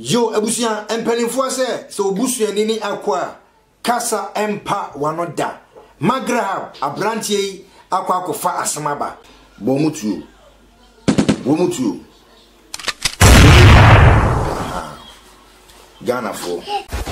Yo abusua mpaninfoɔ sɛ sɛ obusuani ne akoa kasa mpa wano da ma grahab abranteɛ yi akɔ akɔ fa asem aba. Bɔ ɔmo tuo. Bɔ ɔmo tuo. Ghanafoɔ.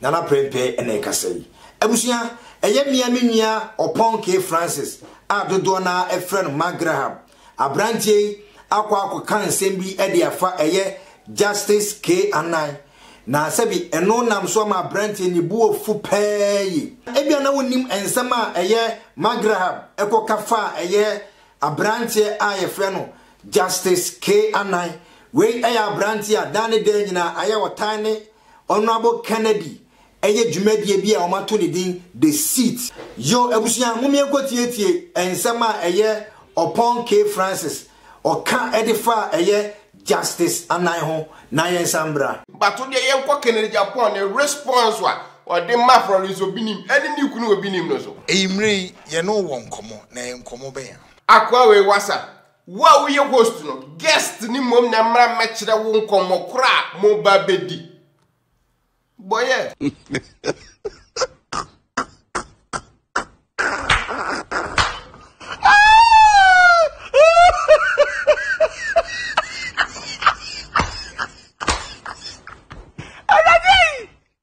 Nana Prempeh na ɛkasa yi. Abusua, ɛyɛ me a me nua Ɔpɔnkee Francis a dodoɔ no ara frɛ no Mark Graham. Aberanteɛ yi akɔ akɔka nsɛm bi de afa ɛyɛ Justice K. Anan, na sɛbi ɛno nam so ama aberanteɛ no ne bo afu paa yi. Ebia na wonim nsɛm a ɛyɛ Mark Graham kɔka faa ɛyɛ aberanteɛ a yɛfrɛ no Justice K. Anan. Wei yɛ aberanteɛ a daa ne daa nyinaa ayɛ ɔtan ne Honourable Kennedy yɛ dwumadie bi a wɔato ne din The Seat. Yo, abusua, mommyɛ nkɔtietie nsɛm a ɛyɛ Ɔpɔn K. Francis ɔka de fa a ɛyɛ Justice Anan ho na yɛnsan mmra. But wo deɛ yɛnkɔ Kennedy Apoah ne response a ɔde ma Florence Obinim ne ne kunu Obinim no so. Eyimmere yi, yɛne wo wɔ nkɔmmɔ, na ɛyɛ nkɔmmɔ bɛn a? Akoa wei wasa, Wo a woyɛ host no, guest no mmom na ɛmmra mmɛkyerɛ wo nkɔmmɔ korɔ a moba bɛdi. Bɔyɛ.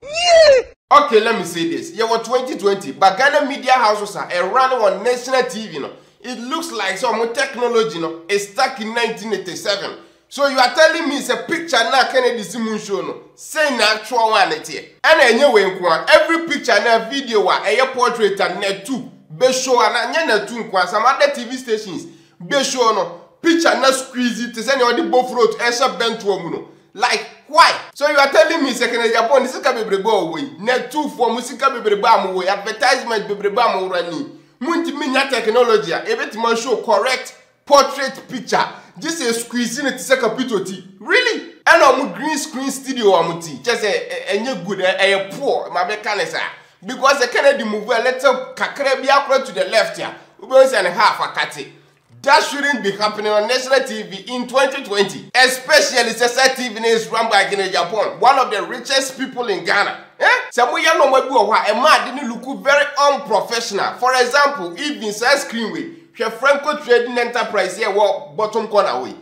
Yie! Ok let me say this, yɛwɔ 2020 but Ghana media houses a ɛ run wɔn national TV no it looks like sɛ wɔn technology no is stuck in 1987 so you are telling me sɛ picture no a Kennedy si mu nsuo no sei na actual one no teɛ? Ɛna ɛnyɛ wei nko ara, every picture anaa video a ɛyɛ portrait a Natu bɛ show anaa nyɛ Natu nko ara some other TV stations bɛ show no picture no squeeze te sɛ nea wɔde bofrot ɛhyɛ bɛntoa mu no Like why? So you are telling me sɛ Canadiafoɔ ne sika bebrebe a wɔwɔ yi, Nɛtufoɔ mo sika bebrebe a mowɔ yi, advertisement bebrebe a mo run yi, montumi nya technology a ɛbɛtumi a show correct portrait picture gye sɛ squeeze no te sɛ kapito ti? Really? Ɛna ɔmo green screen studio a mo ti, kyɛ sɛ ɛnyɛ good, ɛyɛ poor, ma me ka ne saa. Because sɛ Kennedy move a little kakra biara koraa to the left a, wobɛhu sɛ ne half akate. That shouldn't be happening on national TV in 2020 especially sɛ saa TV no is run by Gene Japon one of the richest people in Ghana eh sɛ mo yɛ nnoɔma bi wɔ hɔ a ɛma ade no look very unprofessional for example even saa screen wei hwɛ Frenco Trading Enterprise yi a ɛwɔ bottom corner hɔ yi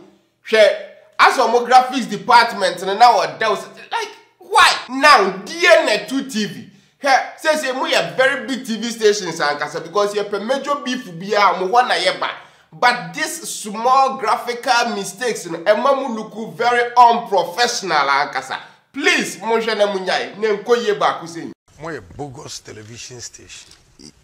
Hwɛ as ɔmo graphics department no na ɔdɛw sɛ like why. Now deɛ na ɛto TV. Hwɛ seesei mo yɛ very big TV stations ankasa because yɛpɛ major beef biaa mo hɔ na yɛ ba but this small graphical mistakes no ɛma mo look very unprofessional ankasa please monhwɛ na mo nyae na ɛnkɔ yie baako sei. Moyɛ bogus television station.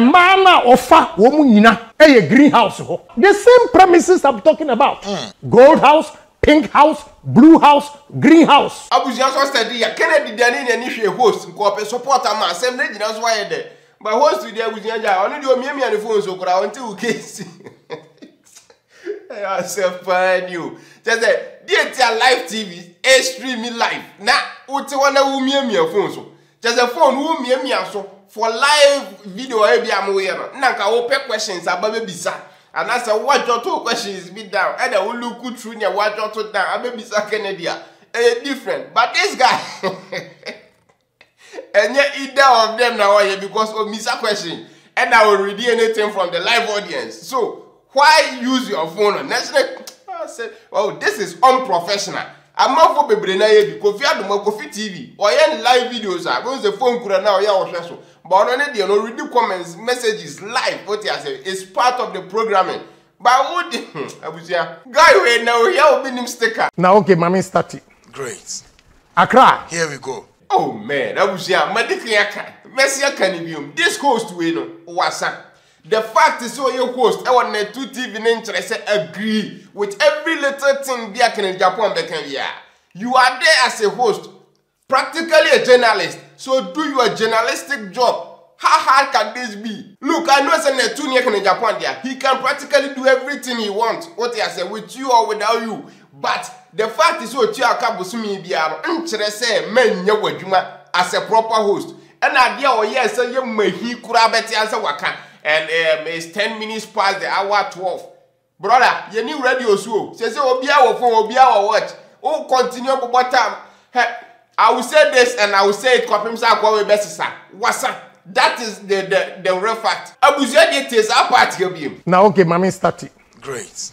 mmaa no a ɔfa wɔn mu nyina yɛ greenhouse hɔ the same premises i'm talking about hmm. gold house pink house blue house green house. abusua sɔ sɛ di ya kennedy dani na ɛni hwɛ host nkɔɔpɛ support ama asɛm ne gyina so ayɛ dɛ. Ba host deɛ abusua gya ɔno deɛ omiamia ne phone so koraa ɔnte wo case. Ɛyɛ asɛm paa ni o. Kyɛ sɛ deɛ tia live TV stream live na wote hɔ na womiamia phone so. Kyɛ sɛ phone womiamia so for live video a ebi a moyɛ no na nka wopɛ questions aba bɛbisa anaasɛ woadwɔto questions bi down ɛna wo look through nea woadwɔto down abɛbisa Kennedy a ɛyɛ different but this guy Ɛnyɛ either of them na ɔyɛ because omisa question ɛna o read anything from the live audience so why use your phone on next ne ah, say oh this is unprofessional amanfo bebree na yɛ bi kofi adoma kofi tv ɔyɛ ne live videos a bɛn sɛ phone kura na ɔyɛ ɔhwɛ so but ɔno ne deɛ no read comments messages live o ti ase it's part of the programming Ba wo di ho abusua. Guy wei na ohia obi nim sticker. Na okay mame stati. Great. Accra. Here we go. Oh man abusua madikan aka mɛse aka no biom this host wei no wasa the fact sɛ ɔyɛ host ɛwɔ Netu TV no nkyerɛ sɛ agree with every little thing bi a Kenneth Japan bɛka biara you are there as a host Practically a journalist so do your journalistic job how hard can this be look I know sɛ na ɛtu neɛ kene Japan dea he can practically do everything he want wote asɛ with you or without you but the fact sɛ ɔtua ɔka bosome biara no nkyerɛ sɛ manyɛ w'adwuma as a proper host ɛna adeɛ a ɔyɛɛ sɛ yɛ mahi koraa bɛte asɛ waka and um, it's 10 minutes past the hour 12 Brɔda, yɛnni radio so o. Seesei obiara wɔ phone, obiara wɔ watch. Wo continue bobɔ tam. Hɛ, I will say this and I will say it kɔpem sɛ akoa wei bɛsesa. Wasa. That is the the the real fact. Abusua deɛ tie saa part hɛ biem. Na okay ma me starte. Great.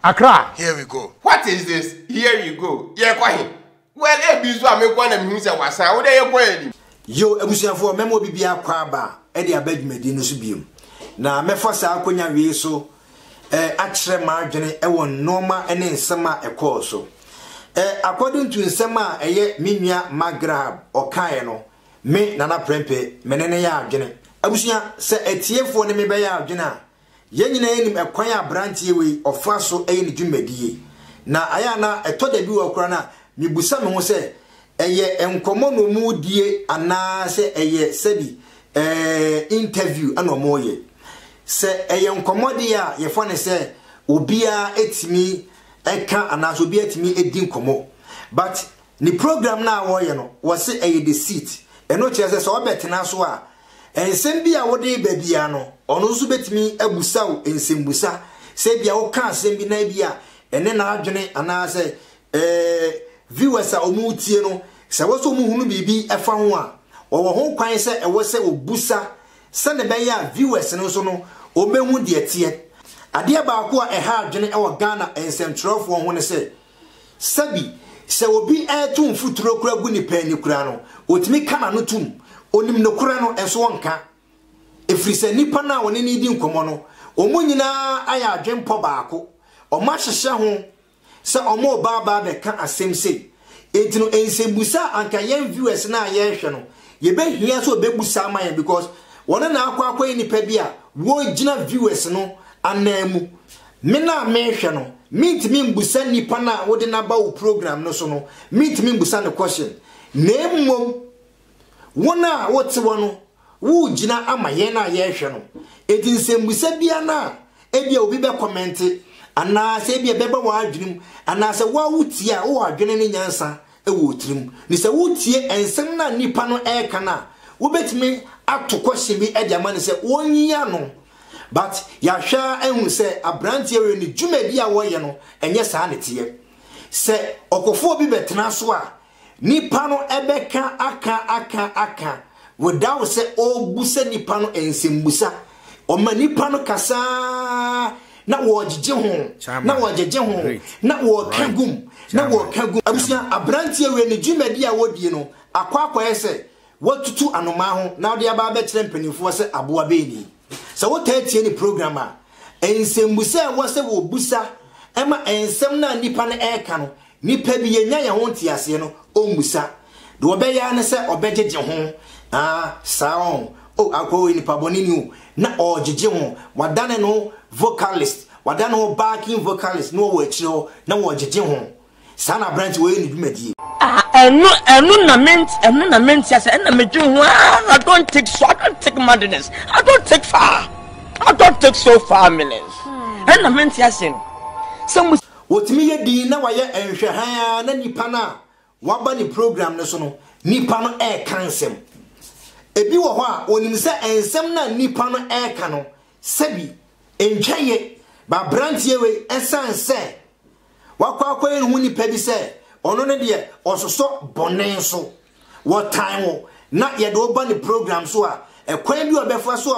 Accra. Here we go. What is this? Here we go. Yɛrekɔ he? Well ebi nso a mekɔ na mehu sɛ wasan wo dɛ yɛkɔ yɛn anim. Yow abusuafoɔ mɛma obi biara kɔ aba de aba dwumadi no so biom na mɛfa saa akonya wei so eh akyerɛ m'adwene wɔ nnoɔma ne nsɛm a ɛkɔɔ so eh according to nsɛm a ɛyɛ me nua Mark Graham ɔkaeɛ no me Nana Prempeh me ne no yɛ adwene abusua sɛ atiefoɔ ne me bɛyɛ adwene a Yɛn nyinaa nim ɛkwan a abranteɛ wei ɔfa so yɛ ne dwumadie. Na ayɛ a na ɛtɔ da bi wɔ koraa na mebisa me ho sɛ ɛyɛ nkɔmmɔ na wɔredie anaa sɛ ɛyɛ sɛbi eh, interview na wɔreyɛ. Sɛ ɛyɛ nkɔmmɔ deɛ a yɛfa ne sɛ obiara tumi ɛka anaasɛ obiara tumi ɛdi nkɔmmɔ. But ne program no a wɔreyɛ no wɔse ɛyɛ the seat. Ɛno kyerɛ sɛ sɛ ɔbɛtena so a Nsɛm bi a wode reba biara no, ɔno nso betumi abusa wo nsɛmmisa. Sɛ ebia woka asɛm bi na ebia ɛne n'adwene anaasɛ eh, viewers a wɔretie no, sɛ ɛwɔ sɛ wɔhunu biribi fa ho a, wɔwɔ ho kwan sɛ ɛwɔ sɛ wɔbusa sɛnea ɛbɛyɛ a viewers no nso no wɔbɛhu deɛ ɛteɛ. Adeɛ baako a ɛha adwene wɔ Ghana nsɛmtwerɛfoɔ ho ne sɛ, Sɛbi, sɛ obi reto mfuturo kura gu nipa ani kura no, ɔtumi ka n'ano tom. Ɔnim nokorɛ no, nso ɔnka. Ɛfiri sɛ nipa no a ɔne no redi nkɔmmɔ no, wɔn nyinaa ayɛ adwenpɔ baako. Wɔahyehyɛ ho sɛ wɔreba aba abɛka asɛm sei. Enti no, nsɛmbusa a anka yɛn viewers no a yɛrehwɛ no, yɛbɛhia sɛ wɔbɛbusa ama yɛn because wɔn na akɔ akɔyɛ nipa bi a wɔgyina viewers no ananmu. Me no a merehwɛ no, mentumi mbusa nipa no a wode no aba wo program no so no, mentumi mbusa no question. Na mmom, won a wote hɔ no, woregyina ama yɛn a yɛrehwɛ no. Enti nsɛmbusa biara no a ebia obi bɛ kɔmɛnte, anaa sɛ ebia ɛbɛba w'adwene mu, anaa sɛ wo ara wotie a, wowɔ adwene ne nyansa wɔ wo tirim. Ne sɛ wotie nsɛm no a nipa no reka no a, wobɛtumi ato question bi de ama no sɛ ɔnyi ano. But yɛahwɛ ara ahu sɛ abranteɛ wei no dwumadi a wɔyɛ no ɛnyɛ saa na ɛteɛ. Sɛ ɔkɔfoɔ bi bɛtena so a, nipa no ɛbɛka aka aka aka without sɛ ɔrebusa nipa no nsɛmbusa. Ɔma nipa no kasa ara na wɔregyegye ho, na wɔregyegye ho, na wɔreka gum, na wɔreka gum. Abusua, abranteɛ wei no dwumadi a wɔdie no akɔ akɔyɛ sɛ Watutu anomaa ho na ɔde aba abɛkyerɛ mpanimfoɔ sɛ aboa bɛn ni? Sɛ wotaa tie ne program a, nsɛmbusa a ɛwɔ sɛ wɔbusa ma nsɛm no a nnipa no reka no, nnipa bi yɛnnya yɛn ho nteaseɛ no, ɔmmusa. Deɛ ɔbɛyɛ ara ne sɛ ɔbɛgyegye ho. Ah, saa ɔn. Oh, akoa wei nipabɔne ni o. Na ɔregyegye ho. Wadane ne ho vocalist. Wadane ne ho backing vocalist na ɔwɔ akyire hɔ na ɔregyegye ho. Saa na aberanteɛ ɔyɛ ne dwumadie. Ah ɛno ɛno na me ɛno na me nte ase ɛna me dwen ho ah I don't take so I don't take madness I don't take far I don't take so far minutes ɛna me nte ase no sɛ mo. Wɔtumi yɛ din na wayɛ nhwɛhan a na nipa no a waba ne program no so no nipa no ɛreka nsɛm ebi wɔ hɔ a ɔnim sɛ nsɛm no a nipa no ɛreka no sɛbi ntwa yɛ ba aberanteɛ wei ɛsan sɛ Wakɔ akɔyɛ ne ho nipa bi sɛ ɔno no deɛ ɔsosɔ bɔne so. Wɔtan wo na yɛde wo ba ne program so a, ɛkwan bi a ɔbɛfa so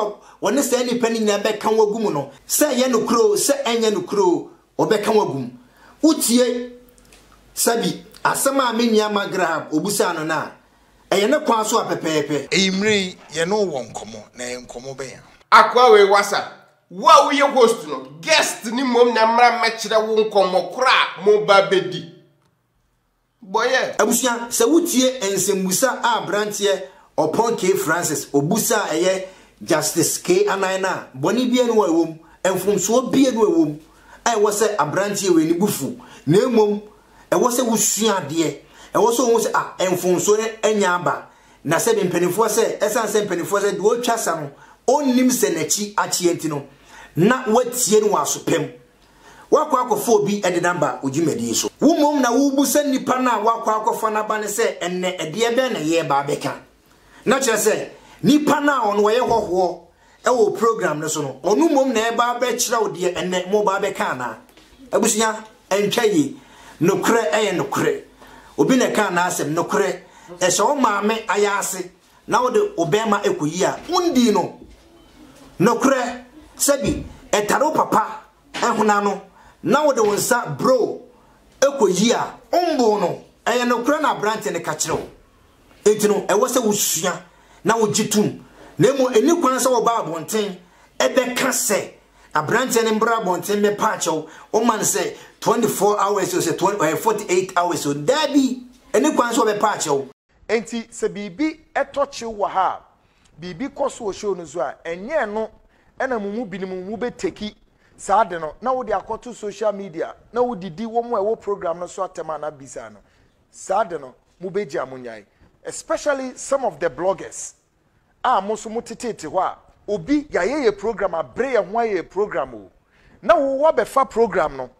a ɔne saa nipa no nyinaa bɛka wo agu mu no, sɛ ɛyɛ nokorɛ o, sɛ ɛnyɛ nokorɛ o, ɔbɛka wo agu mu. Wotie sɛbi asɛm a me nua Mark Graham ɔbusaa no no a, ɛyɛ ne kwan so a pɛpɛɛpɛ. Eyimmere yi, yɛne wo wɔ nkɔmmɔ, na ɛyɛ nkɔmmɔ bɛn a? Akoa wei wasa Wo a woyɛ host no, guest no mmom na mmra mmɛkyerɛ wo nkɔmmɔ koro a moreba abɛdi. Boyɛ. Abusua, sɛ wutie nsɛmbusa a aberanteɛ Ɔpɔn K. Francis ɔbusa a ɛyɛ Justice K. Anan no a, bɔne biara nni hɔ a ɛwom, mfomsoɔ biara nni hɔ a ɛwom a ɛwɔ sɛ aberanteɛ wei ne bo fu, na mmom ɛwɔ sɛ wosua adeɛ, ɛwɔ sɛ wohu sɛ ah, mfomsoɔ no anya aba, Na sɛdeɛ mpanimfoɔ sɛ, ɛsiane sɛ mpanimfoɔ sɛ deɛ ɔretwa asa no, ɔnnim sɛ n'akyi akyeɛ nti no, na woatie no wɔ aso pa mu. Woakɔ akɔfa obi de no aba wo dwumadie so. Wo mmom na wobisa nipa no a woakɔ akɔfa no aba no sɛ, ɛnnɛ ɛdeɛ bɛn na yɛreba abɛka? Na kyerɛ sɛ, nipa no a ɔno ɔyɛ hɔhoɔ Wɔ program no so no, ɔno mmom na ɛba abɛkyerɛw deɛ ɛnɛ mo ba abɛka anaa? Abusua, ɛntwa yie. Nokorɛ yɛ nokorɛ. Obi na ɛkaa n'asɛm. Nokorɛ, sɛ wo maame ayaase na wode wo bɛrima kɔyi a, wondii no. Nokorɛ, sɛbi ɛtare wo papa hona no na wode wo nsa broo kɔyi a, womboo no. Ɛyɛ nokorɛ na aberanteɛ no ka kyerɛ wo. Enti no, ɛwɔ sɛ wosua na wogye tom, na mmom enni kwan sɛ wɔba abɔnten bɛka sɛ aberanteɛ no mbra abɔnten mmɛpa akyɛw, woma no sɛ 24 hours o, sɛ 48 hours o. Daabi, enni kwan sɛ wɔbɛpa akyɛw. Enti sɛ biribi tɔ kyew wɔ ha a, biribi kɔ so wɔ show no so a, ɛnyɛ ɛno na mo mu binom mobɛteki saa ade no na wode akɔto social media na wodidi wɔn a ɛwɔ program no so atɛm anaa bisaa no saa ade no. mo bɛ gye a mo nyae especially some of the bloggers a mo nso mo tetete hɔ a obi yayɛ yɛ program abre yɛ ho ayɛ yɛ program o na wo wa bɛ fa program no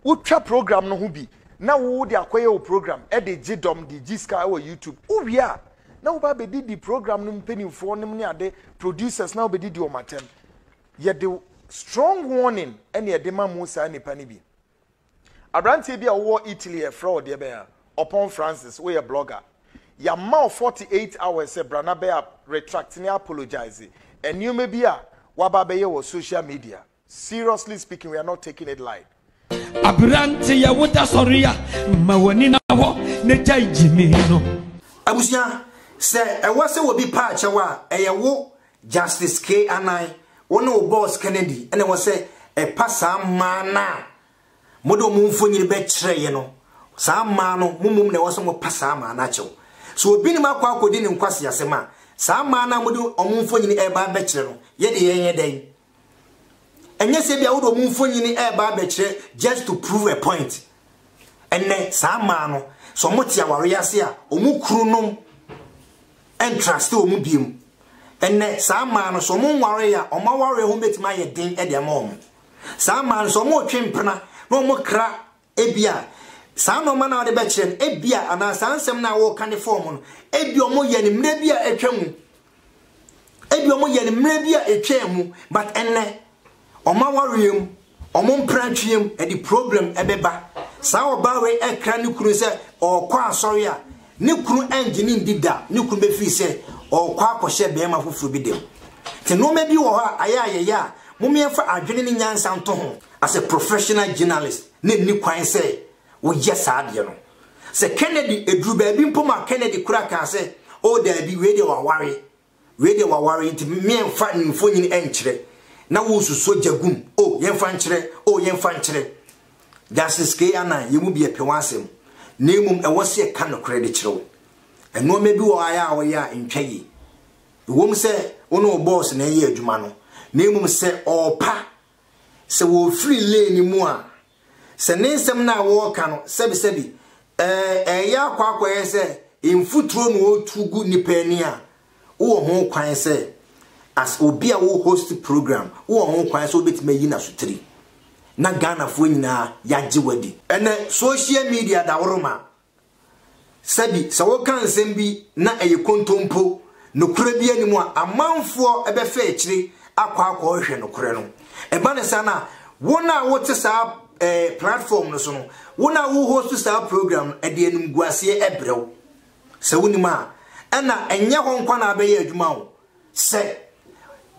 wo twa program no ho bi na wo de akɔyɛ wo program ɛde gye dɔm de gye ska ɛwɔ youtube wo wie a na wo ba bɛ di di program no mpanimfoɔ nom ne ade producers na wo bɛ di di wɔn atɛm yɛ de strong warning ɛne ɛde ma mo saa nipa no bi. Aberanteɛ bi a ɔwɔ Italy a yɛfrɛ wo deɛ bɛn a, Ɔpɔn Francis, woyɛ blogger. Yɛama wo 48 hours sɛ bra na bɛ retract ne apologise nneɛma bi a woaba abɛyɛ wɔ social media. Seriously speaking, we are not taking it light. Aberanteɛ wo da sɔre a, ma w'ani na hɔ na gyae gyimii no. Abusua, sɛ ɛwɔ sɛ obi paa kyɛw a, ɛyɛ wo Justice Kay Anan, wo ne wo boss Kennedy na ɛwɔ sɛ ɛpa saa mmaa no a mode wɔn mfonini bɛkyerɛeɛ no. Saa mmaa no, mo mmom na ɛwɔ sɛ mopa saa mmaa no akyɛw. Sɛ obi ne mo akɔ akɔdi ne nkwaseasɛm a, saa mmaa no a mode wɔn mfonini reba abɛkyerɛ no, yɛ deɛ yɛnyɛ dɛn? Ɛnyɛ sɛ bia wode ɔmo mfonyini ɛɛba abɛkyerɛ just to prove a point. Ɛnɛ saa mmaa no sɛ ɔmo te awareɛ ase a ɔmo kuru nom ɛntraste ɔmo biom. Ɛnɛ saa mmaa no sɛ ɔmo nwareɛ a ɔmo awareɛ ho bɛtumi ayɛ den ɛde ama ɔmo. Saa mmaa no sɛ ɔmo retwe mpena na ɔmo kra Ebia saa nnoɔma no a wode bɛkyerɛ no, ebia, anaa saa nsɛm no a woreka no fɔɔm no, ebia wɔyɛ no mmerɛ bi a atwa mu. Ebia wɔyɛ no mmerɛ bi a ɛtwaa mu, but ɛnnɛ, wɔn awareɛ mu, wɔn mpratweɛ mu, ɛde problem ɛbɛba. Saa ɔbaa wei ɛkra ne kunu sɛ ɔɔkɔ asɔre a, Ne kunu annye no nni da, ne kunu befii sɛ ɔrekɔ akɔhyɛ barima foforo bi dɛm. Te nnoɔma bi wɔ hɔ a ayɛ a yɛyɛ a mom yɛmfa adwene ne nyansa nto ho as a professional journalist na nni kwan sɛ wo yɛ saa adeɛ no. Sɛ Kennedy, ɛduru baabi mpo ma Kennedy koraa kaa sɛ oh daabi wei deɛ waware. Wei deɛ waware nti meɛnfa ne mfonyin ɛnkyerɛ na woresusua gya gu mu o yɛnfa nkyerɛ o yɛnfa nkyerɛ Justice Kay Annan yɛn mu bi ɛpɛ w'asɛm na mmom ɛwɔ sɛ yɛka nokorɛ de kyerɛ wo Nnoɔma bi wɔ hɔ ayɛ a woyɛ a ntwa yie Ɛwom sɛ wo ne wo boss na ɛyɛ adwuma no na mmom sɛ ɔrepa sɛ wɔrefiri lane mu a Sɛ ne nsɛm no a wɔreka no, sɛbesɛbe, ɛɛ, ɛreyɛ akɔ akɔyɛ sɛ mfuturo na ɔretu gu nnipa ani a, wowɔ ho kwan sɛ, as obi a wo host program, wowɔ ho kwan sɛ wobɛtumi ayi no asotiri na Ghanafoɔ nyinaa yɛagye wo adi. Ɛnnɛ, social media daworoma Sɛbi, sɛ woka nsɛm bi na ɛyɛ kontompo, nokorɛ biara nni mu a, amanfoɔ bɛfa akyire akɔ akɔhwehwɛ nokorɛ no. Ɛba no saa no a, wo no a wote saa eh, platform no so no, wo no a wo host saa program no, ɛde animguaseɛ brɛ wo. Sɛ wonim a, ɛna ɛnyɛ hɔ nko na abɛyɛ adwuma o, Sɛ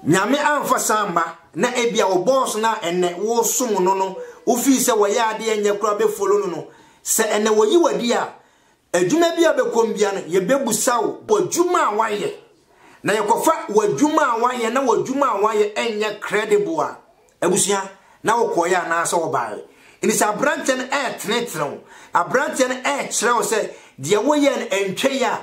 Nyame amfa saa amma na ebia wo boss no a ɛnnɛ wo som no no wo fii sɛ wɔyɛ adeɛ ɛnyɛ koraa bɛ follow no no sɛ ɛnnɛ wɔyi wo adi a adwuma bia a bɛkɔm bia no yɛ bɛ busa wo adwuma a wayɛ na yɛ kɔfa wo adwuma a wayɛ na wo adwuma a wayɛ ɛnyɛ credible a abusua na wo kɔɔyɛ anaa sɛ wo baɛ ɛni sɛ abranteɛ no ɛɛtene tene wo abranteɛ no ɛɛkyerɛ wo sɛ deɛ woyɛ no ɛntwa yi a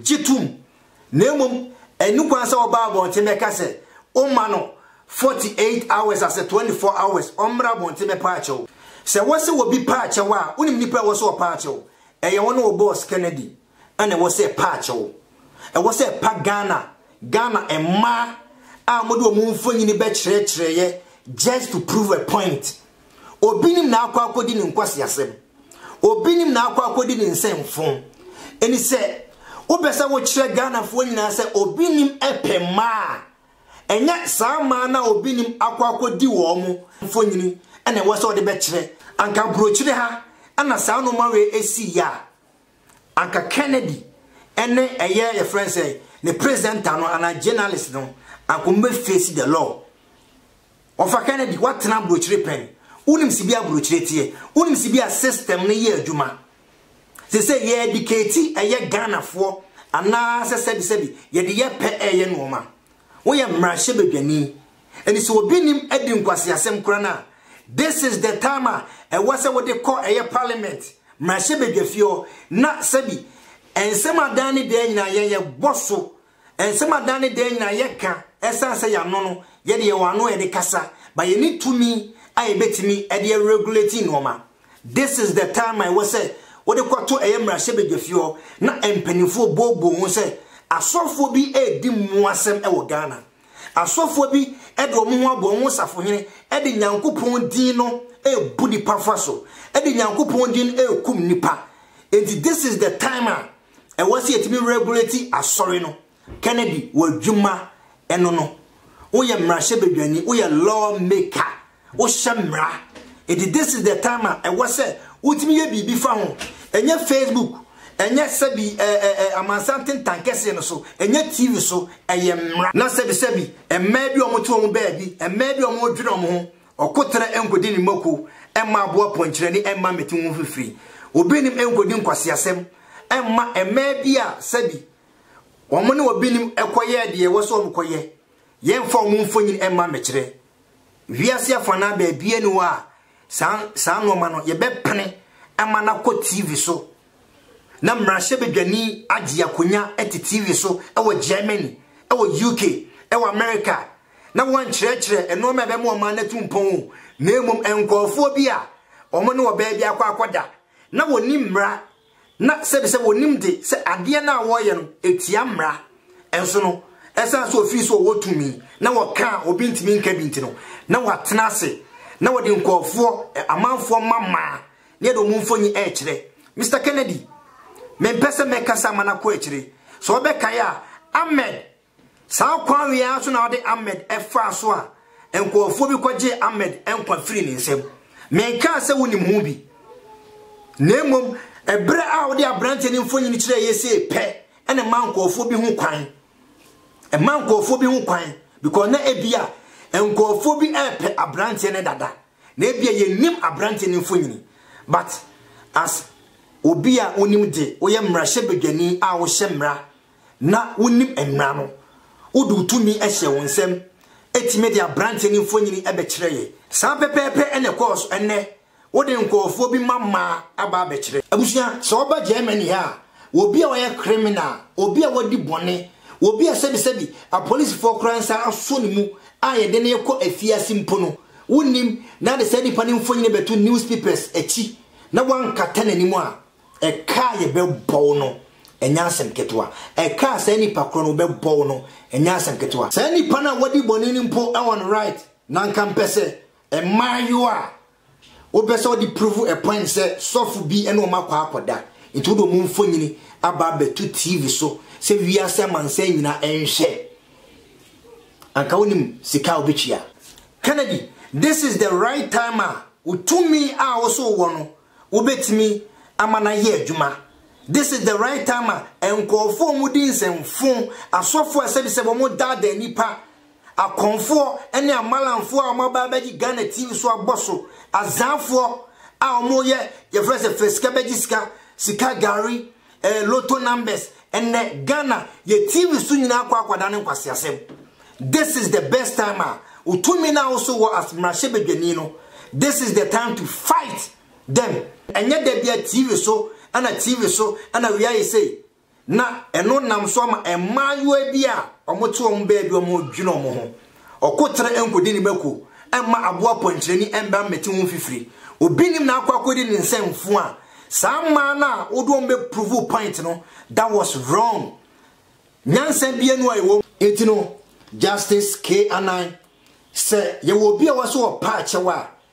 gye tum na mmom ɛne kwan sɛ wɔba abɔnten bɛka sɛ woma no 48 hours asɛ 24 hours ɔmmra abɔnten bɛpaa kyɛw. Sɛ wɔsɛ obi paa kyɛw a, wonim nnipa a ɛwɔ sɛ wɔpaa kyɛw? Ɛyɛ wo ne wo boss Kennedy na ɛwɔ sɛ ɛpaa kyɛw. Ɛwɔ sɛ ɛpa Ghana, Ghana mmaa a wɔde wɔn mfonini bɛkyerɛkyerɛeɛ just to prove a point. Obinom na akɔ akɔdi ne nkwaseasɛm. Obinom na akɔ akɔdi ne nsɛmfo. Enti sɛ wopɛ sɛ wokyerɛ Ghanafoɔ nyinaa sɛ obinom pɛ mmaa a, ɛnyɛ saa mmaa no a obinom akɔ akɔdi wɔn mfonini na ɛwɔ sɛ wode bɛkyerɛ. Anka aburokyire ha na saa nnoɔma wei sii a, Anka Kennedy ne ɛyɛ yɛfrɛ no sɛn ne presenter no anaa journalist no anka ɔmo bɛ face the law. Ɔfa Kennedy watena abrokyire pɛn. Wonim sibia abrokyire teɛ. Wonim sibia system no yɛ adwuma. Sese yɛ educate ɛyɛ Ghana foɔ anaa sɛ sɛbi sɛbi yɛde yɛ pɛ ɛyɛ nnoɔma. Woyɛ mmarahyɛ badwani Ɛnti sɛ obi nim adi nkwaseasɛm kora no a, this is the time a ɛwɔ sɛ wode kɔ ɛyɛ parliament, mmarahyɛbadwafie hɔ na sɛbi nsɛm a daa ne daa nyinaa yɛn yɛbɔ so, nsɛm a daa ne daa nyinaa yɛka ɛsiane sɛ yɛano no, yɛde yɛwɔ ano a yɛde kasa, but yɛnni tumi a yɛbɛtumi de aregulate nnoɔma. This is the time a ɛwɔ sɛ wode kɔto ɛyɛ mmarahyɛbadwafie hɔ na mpanimfoɔ booboo ho sɛ asɔfoɔ bi redi mmoasɛm wɔ Ghana. Asɔfoɔ bi de wɔn ho abɔ wɔn ho safohene de Nyankopɔn din no rebu nnipa fa so, de Nyankopɔn din rekum nnipa. Enti this is the time a ɛwɔ sɛ yɛtumi regulate asɔre no. Kennedy, w'adwuma ɛno no. Woyɛ mmarahyɛbadwani, woyɛ law maker. Wohyɛ mmara. Enti this is the time a ɛwɔ sɛ wotumi yɛ biribi fa ho. Ɛnyɛ Facebook, ɛnyɛ sɛbi ɛɛ ɛɛ amansan tentan kɛseɛ no so, ɛnyɛ TV so, ɛyɛ mmara. Na sɛbi sɛbi, mmaa bi a wɔte wɔn baabi, mmaa bi a wɔredwene wɔn ho, ɔkoterɛ nkɔdi ne mako mma aboa pɔnkyerɛni mma mmɛte ho mfifiri. Obinim nkɔdi nkwaseasɛm mma mmaa bi a sɛbi wɔne obinim kɔyɛɛ deɛ ɛwɔ sɛ wɔkɔyɛ. Yɛmfa wɔn mfonyin mma mmɛkyerɛ. Wiase afanaa baabiara ni hɔ a saa saa nnoɔma no yɛbɛpene ama no akɔ TV so na mmarahyɛbadwani agye akonya te TV so wɔ Germany, wɔ UK, wɔ America na wɔnkyerɛkyerɛ nnoɔma a ɛbɛma ɔman no atu mpɔn o, na mmom nkurɔfoɔ bi a wɔn ne ɔbaa bi akɔ akɔda na wɔnni mmara na sɛbi sɛ wɔnim de sɛ adeɛ no a wɔreyɛ no ɛtia mmara nso no, ɛsiane sɛ ɔfiri so ɔwɔ tumi na wɔka a obi ntumi nka bi nti no, na wɔatena ase na wɔde nkurɔfoɔ, amanfoɔ mma mmaa ne yɛde wɔn mfoni rekyerɛ. Mister Kennedy, mempɛ sɛ mɛkasa ama no akɔ akyire. Sɛ wobɛkae a, Ahmed Saa kwan yi ara so na wɔde Ahmed faa so a nkurɔfoɔ bi kɔgyee Ahmed nkwa firii ne nsam. Menkaa sɛ wonim ho bi, na mmom berɛ a wode aberanteɛ no mfonini kyerɛɛ yɛ sei pɛ na ɛmaa nkurɔfoɔ bi ho kwan. Ɛmaa nkurɔfoɔ bi ho kwan because na ebia nkurɔfoɔ bi repɛ aberanteɛ no dada, na ebia yɛnnim aberanteɛ no mfonini. But as obi a wonim de, woyɛ mmarahyɛbadwani a wohyɛ mmara, na wonim mmara no. Wode wo tumi hyɛɛ wo nsam tumi de aberanteɛ no mfonini bɛkyerɛɛ yɛn. Saa pɛpɛɛpɛ na ɛkɔɔ so. Ɛnnɛ, wode nkurɔfoɔ bi mma mmaa aba abɛkyerɛ. Abusua, sɛ woba Germany ha a, obi a ɔyɛ criminal, obi a wadi bɔne, obi a sɛbisɛbi apolisifoɔ koraa nsa asɔ ne mu a yɛde no rekɔ afiase mpo no, wonnim, na wode saa nipa no mfonini bɛto newspapers akyi na woankata n'anim a, Ɛka a yɛbɛbɔ wo no, ɛnyɛ asɛm ketewa. Ɛka a saa nipa korɔ no wɔbɛbɔ wo no, ɛnyɛ asɛm ketewa. Saa nipa no a wadi bɔne no mpo wɔ no right na anka mpɛ sɛ mmaayewa a wopɛ sɛ wɔde prove a point sɛ sɔfo bi ne wɔn akɔ akɔda nti wode wɔn mfonyini aba abɛto TV so sɛ wiase amansan nyinaa nhwɛ. Anka wonim sika a wobɛtua. Kennedy, this is the right time a wo tumi a wo so wowɔ no wobɛtumi ama no ayɛ adwuma. This is the right time a nkurɔfoɔ a wɔdi nsɛmfo, asɔfoɔ a sɛbisɛbi wɔdaadaa nnipa, akɔmfoɔ ne amalamfoɔ a wɔaba abɛgye Ghana TV so abɔ so, azaafoɔ a wɔyɛ yɛfrɛ sɛ fɛ sika bɛgye sika, sika gari, Eh lotto numbers ɛnɛ Ghana yɛ TV so nyinaa kɔ akɔda ne nkwaseasɛm this is the best time a wotumi na woso wɔ as mmarahyɛbadwani no this is the time to fight them ɛnyɛ da bia TV so ɛna TV so ɛna wia yɛ sei na ɛno nam so ama mmaayewa bi a wɔte wɔn baabi wɔn dwene wɔn ho Ɔko tra nkodi ne ba ku mma aboa pɔnkyerɛni mmra mmɛte ho mfifiri. Obi nnim na akɔ akɔdi ne nsa mfuu a, saa mmaa no a wode wɔn bɛ prove point no, that was wrong. Nyansa biara nni hɔ a ɛwɔ mu. Enti no, Justice K. Anan, sɛ yɛwɔ obi a wɔse ɔpɛ akyɛw a,